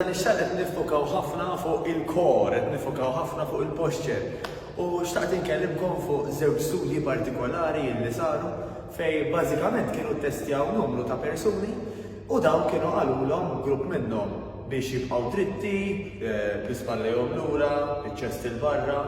Dan ix-xahar qed nifokaw ħafna fuq il-kor, qed nifokaw ħafna fuq il-posture. U xtaqt inkellimkom fuq żewġ studji partikolari li saru fej bażikament kienu ttestjaw numru ta' persuni u dawn kienu qalulhom grupp minnhom biex jibqgħu dritti, eh, bl-ispallejhom lura, biċ-ċest il-barra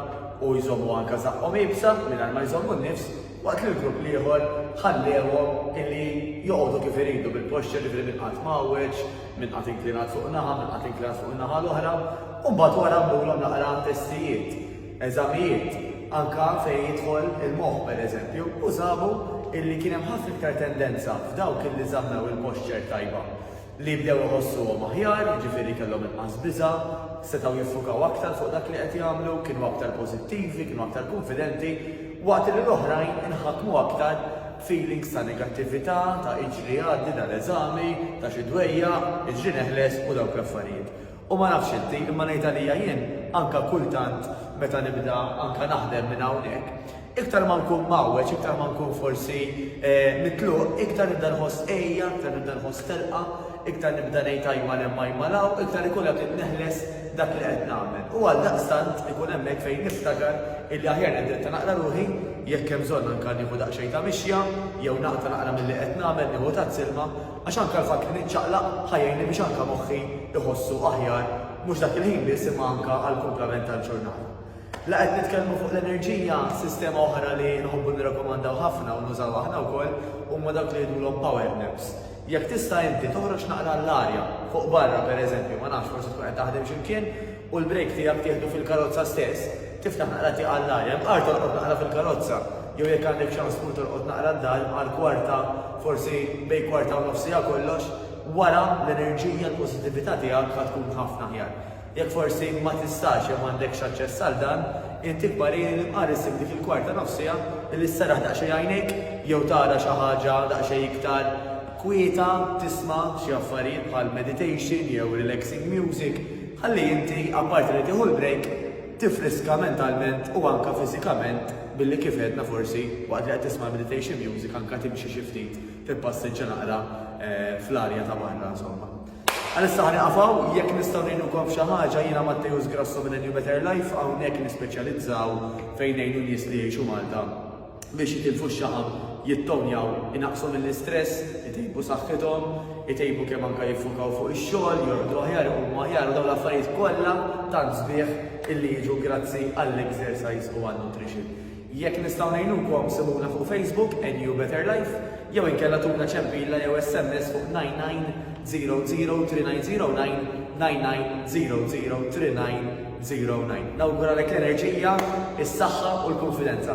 u jżommu anka saqqhom ibsa mingħajr ma jżommu n-nifs waqt li l-grupp l-ieħor ħallewhom illi joqogħdu kif iridu bil-posture li bil-qatt mawweġ Min qatt inklinat fuq naħa, min qatt inklinat fuq in-naħa l-oħra, u mbagħad wara mmulhom naqra testijiet, eżamijiet, anke fejn jidħol il-moħħ pereżempju, u sabu illi kien hemm ħafna iktar tendenza f'dawk illi żammew il-posture tajba li bdew iħossuhom aħjar, jiġifieri kellhom inqas biża', setgħu jiffukaw aktar fuq dak li qed jagħmlu, kienu aktar pożittivi, kienu aktar kunfidenti, waqt li l-oħrajn inħakmu aktar feelings ta' negattività, ta' iġri għaddi dal-eżami, ta' xi dwejjaq, iġri neħles u dawk l-affarijiet. U ma nafx inti, imma ngħid għalija jien, anke kultant meta nibda anke naħdem minn hawnhekk, iktar ma nkun mgħawweġ, iktar ma nkun forsi mitluq, iktar nibda nħoss għeja, iktar nibda nħoss telqa, Iktar nibda ngħid ajmal hemm ajmal hawn, iktar ikun hemm li neħles dak li qed nagħmel. U għaldaqstant ikun hemmhekk fejn niftakar illi aħjar nindetta naqra ruħi, jekk hemm bżonn anke nieħu daqsxejn ta' mixja, jew naqta' naqra milli qed nagħmel, nieħu tazz ilma, għax anke l-fatt li niċċaqlaq ħa jgħinni biex anke moħħi iħossu aħjar, mhux dak il-ħin biss imma anke għall-kumplament tal-ġurnata. La qed nitkellmu fuq l-enerġija, sistema oħra li nħobbu nirrakkomandaw ħafna u nużaw aħna wkoll huma dawk li jgħidulhom power naps. Jekk tista' inti toħroġ naqra l-arja, fuq barra pereżempju, ma nafx, forsi tkun qed taħdem xi mkien u l-break tiegħek tieħdu fil-karozza stess, tiftaħ naqra tieqa l-arja, mqar torqod naqra fil-karozza, jew jekk għandek ċans tmur torqod naqra d-dar, mqar kwarta, forsi bejn kwarta u nofs siegħa kollox, wara l-enerġija, l-pożittività tiegħek ħa tkun ħafna aħjar. Jekk forsi ma tistax jew m'għandekx aċċess għal dan, int ikbar ejn il-imqar issib dik il-kwart ta' nofsiegħa billi sserraħ daqsxejn għajnejk jew tara xi ħaġa daqsxejn iktar kwieta, tisma' xi affarijiet bħal meditation jew relaxing music, ħalli inti, apparti li tieħu l-break, tiffriska mentalment u anke fiżikament billi kif għedna forsi waqt li qed tisma' l-meditation music anke timxi xi ftit, tippassiġġa naqra fl-arja ta' barra insomma. Għalissa ħa nieqaf hawn, jekk nistgħu ngħinukom f'xi ħaġa, jiena Matteus Grasso minn A New Better Life, hawnhekk nispeċjalizzaw fejn ngħinu nies li jgħixu Malta biex jitilfu x-xaħam, jittonjaw, inaqqsu mill-istress, itejbu saħħithom, itejbu kemm anke jiffukaw fuq ix-xogħol, jorqdu aħjar, iqumu aħjar u dawn l-affarijiet kollha tant sbieħ illi jiġu grazzi għall-exercise u għan-nutrition. Jekk nistgħu ngħinukom sibuna fuq Facebook NU Better Life jew inkella tuna ċempilla jew SMS fuq 99003990990039. Nawguralek l-enerġija, is-saħħa u l-kunfidenza.